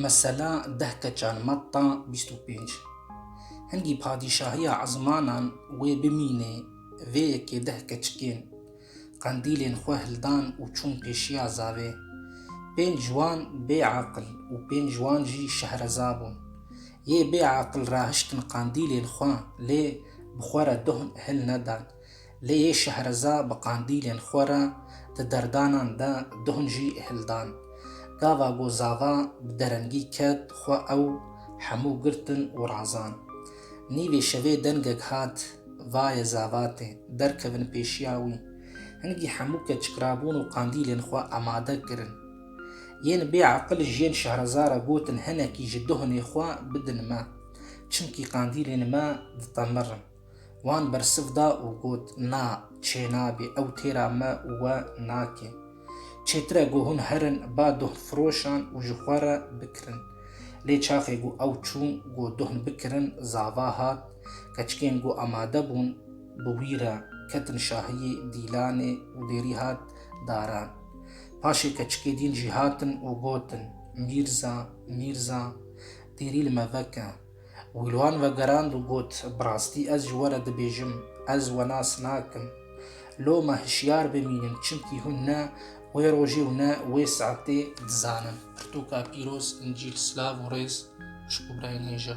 Mesela deh keçan matta bîst û pênc Hingî padîşahiya ezmanan wê bimînê vê yekê deh keçikên qendîlên xwe hildan û çûn pêşiya zavê. Pênc wan bê aqil û pênc wan jî şehreza bûn. Yê bê aqil rahiştin qendîlên xwe lê bi xwe re doh hil nedan. Lê yê Şehreza bi qandîlên xwe re di derdanan de duhn jî hildan. Gava ku zava bi derengî ket xwe ew hemû girtin û razan. Nîvê şevê dengek hat, Vaye zavatê, derkevin pêşiya wî. Hingî hemû ke çikrabûn û qandîlên xwe amade kirin. Yên bê eqil ji yên Şehreza re gotin hinekî ji duhnê xwe bidin me. Çimkî qandîlên me ditemirn. Wan bersiv da û got, Na, çênabî, ew têra me û we nake. Çêtir e ku hûn herin ba duhnfiroşan û ji xwe re bikirin. Lê çaxê ku ew çûn ku duhn bikirin zava hat, keçikên ku amade bûn bi wî re ketin şahiyê Dîlanê û bêrî hat daran. Paşê keçikê dîn jî hatin û gotin, Mîrza, Mîrza, dêrî li me veke. Wî li wan vegerand û got, Bi rastî ez ji we re dibêjim, ez we nas nakim. Loma hişyar bimînin çimkî hûn ne wê rojê û ne wê saetê dizanin. Pirtûka pîroz, Încîl, silav û rêz ji Kubrayê Nêja.